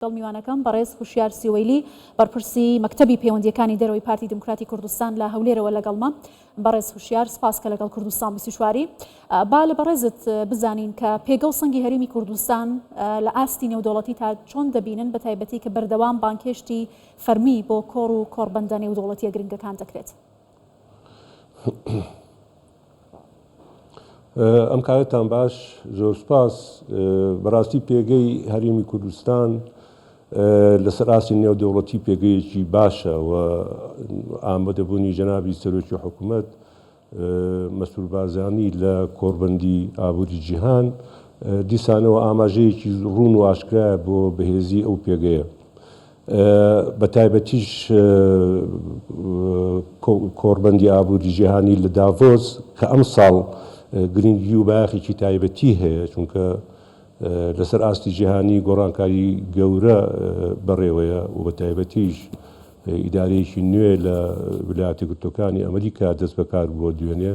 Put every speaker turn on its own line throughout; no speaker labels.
لەگەڵ میوانەکەم بەڕێز هوشیار سیوەیلی بەڕپرسی مەکتەبی پەیوەندییەکانی دەرەوەی پارتی دیموکراتی کوردستان لە هەولێرەوە لەگەڵمە. بەڕێز هوشیار سپاس کە لەگەڵ کوردستان بیست و چوار ی با لە بەڕێزت بزانین کە پێگە و سەنگی هەرێمی کوردستان لە ئاستی نێودەوڵەتی تا چۆن دەبینن بە تایبەتی کە بەردەوام بانگهێشتی فەرمی بۆ کۆڕ و کۆڕبەندە نێودەوڵەتییە گرنگەکان دەکرێت.
ئەم کارەتان باش زۆر سپاس بەڕاستی پێگەی هەرێمی کوردستان لەسەر ئاستی نێودەوڵەتی پێگەیەکی باشە و ئامادەبوونی جەنابی سەرۆکی حکوومەت مەسرور بارزانی لە کۆڕبەندی ئابووری جیهان دیسانەوە ئاماژەیەکی ڕوون و ئاشکرایە بۆ بەهێزی ئەو پێگەیە بەتایبەتیش کۆڕبەندی ئابووری جیهانی لە داڤۆس کە ئەمساڵ گرنگی و بایەخێکی تایبەتی هەیە، چونکە لەسەر ئاستی جیهانی گۆڕانکاری گەورە بەڕێوەیە و بەتایبەتیش ئیدارەیەکی نوێ لە ویلایەتە گرتووەکانی ئەمریکا دەستبەکاربووە دوێنێ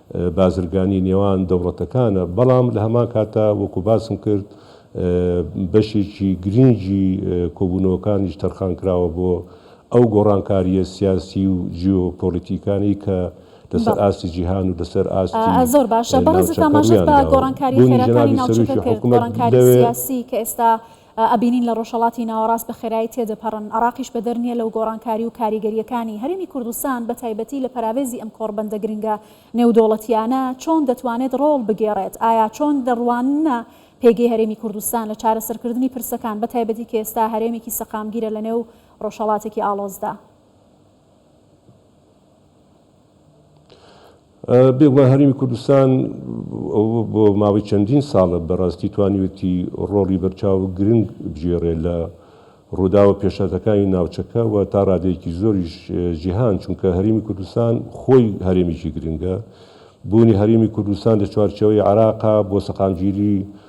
بازرگانی نێوان دەوڵەتەکانە، بەڵام لە هەمان کاتدا وەکو باسم کرد بەشێکی گرینگی کۆبوونەوەکانیش تەرخان کراوە بۆ ئەو گۆڕانکارییە سیاسی و جیۆپۆلیتیکانەی کە لەسەر ئاستی جیهان و لەسەر ئاستی
ناوچەکە روویان داوە. بوونی جەنابی سەرۆکی حکومەت لەوێ، ئەبینین لە ڕۆژهەڵاتی ناوەڕاست بە خێرایی تێدەپەڕن، عێراقیش بەدەر نییە لەو گۆڕانکاری و کاریگەرییەکانی. هەرێمی کوردستان بە تایبەتی لە پەراوێزی ئەم کۆڕبەندە گرنگە نێودەوڵەتییانە چۆن دەتوانێت ڕۆڵ بگێڕێت؟ ئایا چۆن دەڕواننە پێگەی هەرێمی کوردستان لە چارەسەرکردنی پرسەکان، بە تایبەتی کە ئێستا هەرێمێکی سەقامگیرە لەنێو ڕۆژهەڵاتێکی ئاڵۆزدا؟
بێگومان هەرێمی کوردستان بۆ ماوەی چەندین ساڵە بەڕاستی توانیوێتی ڕۆڵی بەرچاو و گرنگ بگێڕێ لە ڕووداوە پێشهاتەکانی ناوچەکە و تا ڕادەیەکی زۆریش جیهان چونکە هەرێمی کوردستان خۆی هەرێمێکی گرنگە بوونی هەرێمی کوردستان لە چوارچێوەی عێراقا بۆ سەقامگیری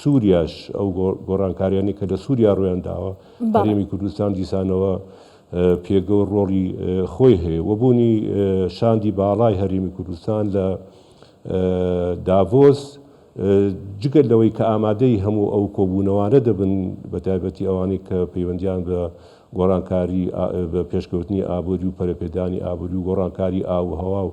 سوریاش ئەو گۆڕانکاریانەی کە لە سوریا ڕوویان داوە، هەرێمی کوردستان دیسانەوە پێگە و ڕۆڵی خۆی هەیە و بوونی شاندی باڵای هەرێمی کوردستان لە داڤۆس جگە لەوەی کە ئامادەی هەموو ئەو کۆبوونەوانە دەبن بە تایبەتی ئەوانەی کە پەیوەندیان بە گۆڕانکاری بە پێشکەوتنی ئابووری و پەرەپێدانی ئابووری و گۆڕانکاری ئاووهەوا و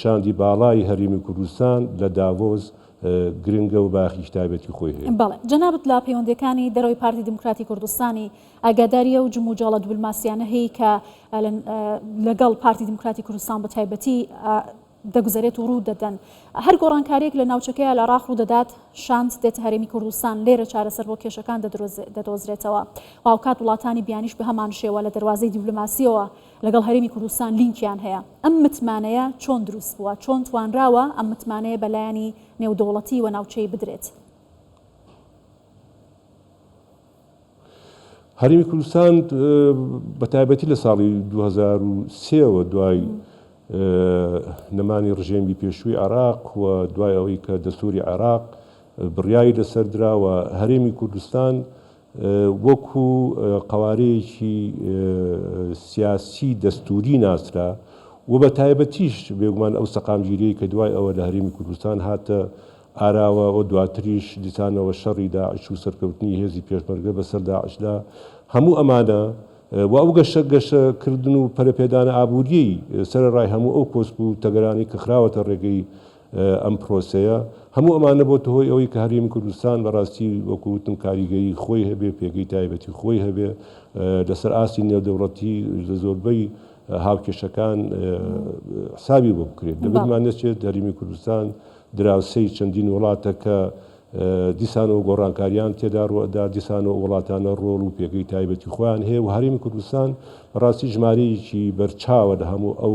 شاندی باڵای هەرێمی کوردستان لە داڤۆس گرنگە و بایەخێکی تایبەتی خۆی هەیە. بەڵێ. جەنابت لە
پەیوەندییەکانی دەرەوەی پارتی دیموکراتی کوردستانی ئاگاداری ئەو جموجۆڵە دبلماسییانە هەیی کە لەگەڵ پارتی دیموکراتی کوردستان بە تایبەتی دەگوزەرێت و ڕوو دەدەن. هەر گۆڕانکارییەک لە ناوچەکەی ئالعراق ڕوو دەدات، شاند دێتە هەرێمی کوردستان، لێرە چارەسەر بۆ کێشەکان دەدۆزرێتەوە و هاوکات وڵاتانی بیانیش بە هەمانشێوە لە دەروازەی دیبلۆماسییەوە لەگەڵ هەرێمی کوردستان لینکیان هەیە، ئەم متمانەیە چۆن دروست بووە، چۆن توانراوە ئەم متمانەیە بە لایەنی نێودەوڵەتی و ناوچەیی بدرێت؟
هەرێمی کوردستان بە تایبەتی لە ساڵی دوو هەزار و سێ وە دوای نەمانی ڕژێمی پێشووی عێراق و دوای ئەوەی کە دەستووری عێراق بڕیاری لەسەر درا و هەرێمی کوردستان وەکو قەوارەیەکی سیاسی دەستووری ناسرا و بە تایبەتیش بێگومان ئەو سەقامگیریەی کە دوای ئەوە لە هەرێمی کوردستان هاتە ئاراوە و دواتریش دیسانەوە شەڕی داعش و سەرکەوتنی هێزی پێشمەرگە بەسەر داعشدا هەموو ئەمانە و ئەو گەشە گەشە کردن و پەرەپێدانە ئابووریەی سەرەڕای هەموو ئەو کۆسپ و تەگەرانەی کە خراوەتە ڕێگەی ئەم پرۆسەیە، هەموو ئەمانە بۆتە هۆی ئەوەی کە هەرێمی کوردستان بە ڕاستی وەکو وتم کاریگەیی خۆی هەبێ، پێگەی تایبەتی خۆی هەبێ لە سەر ئاستی نێودەوڵەتی لە زۆربەی هاوکێشەکان حسابی بۆ بکرێت. دەبێت مان نەچێت هەرێمی کوردستان دراوسێی چەندین وڵاتە کە دیسانەوە گۆڕانکاریان تێدا ڕوو ئەدا، دیسانەوە ئەو وڵاتانە ڕۆڵ و پێگەی تایبەتی خۆیان هەیە و هەرێمی کوردستان بە ڕاستی ژمارەیەکی بەرچاوە لە هەموو ئەو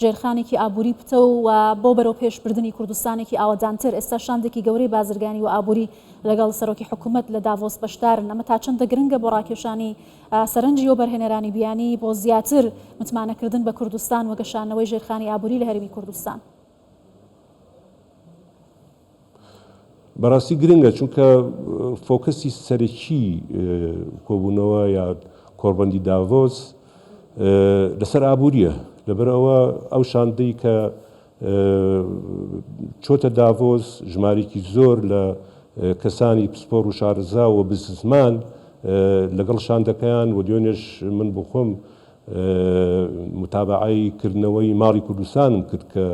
ژێرخانێکی ئابووری پتەو و بۆ بەرەوپێش بردنی کوردستانێکی ئاوەدانتر، ئێستا شاندێکی گەورەی بازرگانی و ئابووری لەگەڵ سەرۆکی حکوومەت لە داڤۆس بەشدارن، ئەمە تا چەندە گرنگە بۆ ڕاکێشانی سەرنجی وەبەرهێنەرانی بیانی بۆ زیاتر متمانەکردن بە کوردستان و گەشانەوەی ژێرخانی ئابووری لە هەرێمی کوردستان؟
بەڕاستی گرنگە چونکە فۆکەسی سەرەکی کۆبوونەوە یا کۆڕبەندی داڤۆس لەسەر ئابووریە لەبەر ئەوە ئەو شاندەی کە چۆتە داڤۆس ژمارێکی زۆر لە کەسانی پسپۆر و شارزا و بززمان لەگەڵ شاندەکەیان و دوێنێش من بۆ خۆم متابعی کردنەوەی ماڵی کوردستانم کرد کە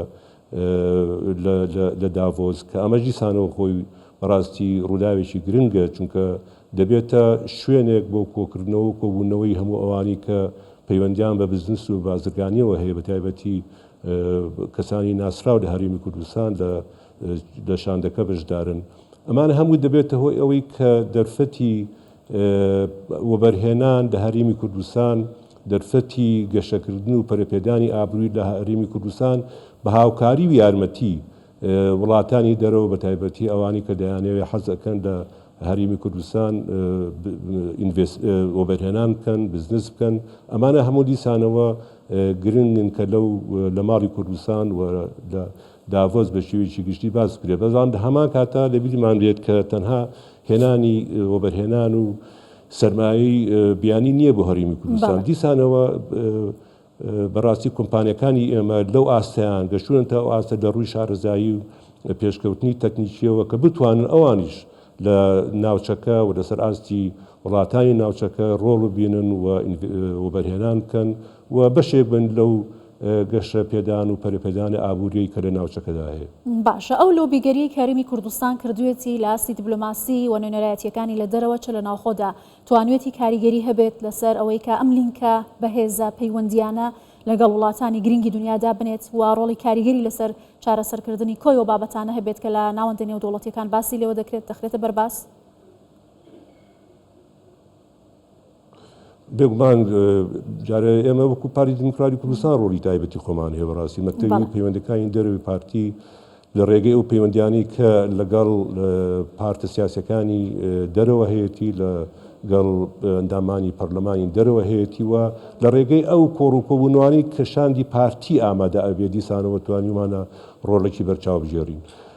لە داڤۆس، کە ئەمەش دیسانەوە خۆی بەڕاستی ڕووداوێکی گرنگە، چونکە دەبێتە شوێنێک بۆ کۆکردنەوە و کۆبوونەوەی هەموو ئەوانەی کە پەیوەندییان بە بزنس و بازرگانییەوە هەیە، بەتایبەتی کەسانی ناسراو لە هەرێمی کوردستان لە شاندەکە بەشدارن. ئەمانە هەموو دەبێتە هۆی ئەوەی کە دەرفەتی وەبەرهێنان لە هەرێمی کوردستان دەرفەتی گەشەکردن و پەرەپێدانی ئابرووی لە هەرێمی کوردستان بە هاوکاری و یارمەتی وڵاتانی دەرەوە بە تایبەتی ئەوانەی کە دەیانەوێت حەز ئەکەن لە هەرێمی کوردستان وەبەرهێنان بکەن بزنس بکەن ئەمانە هەموو دیسانەوە گرنگن کە لەو لە ماڵی کوردستان و لە داڤۆس بە شێوەیەکی گشتی باس بکرێت، بەڵام لە هەمان کاتدا لە بیرمان بێت کە تەنها هێنانی وەبەرهێنان و سەرمایەی بیانی نییە بۆ هەرێمی کوردستان، دیسانەوە بە ڕاستی کۆمپانیاکانی ئێمە لەو ئاستەیان گەشتوونە تا ئەو ئاستە لە ڕووی شارەزایی و پێشکەوتنی تەکنیکییەوە کە بتوانن ئەوانیش لە ناوچەکە و لەسەر ئاستی وڵاتانی ناوچەکە ڕۆڵ ببینن و وەبەرهێنان بکەن و بەشێک بن لەو گەشە پێدان و پەرەپێدانی ئابووریی کە لە ناوچەکەدا هەیە. باشە ئەو لۆبیگەریەی
کە هەرێمی کوردستان کردوێتی لە ئاستی دبلۆماسی و نوێنەرایەتیەکانی لە دەرەوە چ لە ناوخۆدا توانوێتی کاریگەری هەبێت لەسەر ئەوەی کە ئەم لینکە بەهێزە پەیوەندیانە لەگەڵ وڵاتانی گرنگی دنیا دابنێت و ڕۆڵی کاریگەری لەسەر چارەسەر کردنی کۆی و بابەتانە هەبێت کە لە ناوەندە نێودەوڵەتیەکان باسی لێوە دەکرێت دەخرێتە بەرباس؟
بێگومان جارێ ئێمە وەکو پاری دیموکراتی کوردستان ڕۆلی تایبەتی خۆمان هەیە بەڕاستی مەکتەبی پەیوەندەکانی دەروی پارتی لە ڕێگەی ئەو پەیوەندیانی کە لەگەڵ پارتە سیاسەکانی دەرەوە هەیەی لە گەڵ ئەندامانی پەرلەمانی دەرەوە هەیەی وە لە ڕێگەی ئەو کۆڕ و کۆبوونوانی کە شاندی پارتی ئامادە ئەبێ دیسانەوە توانیمانە ڕۆڵێکی بەرچاو بژێڕین.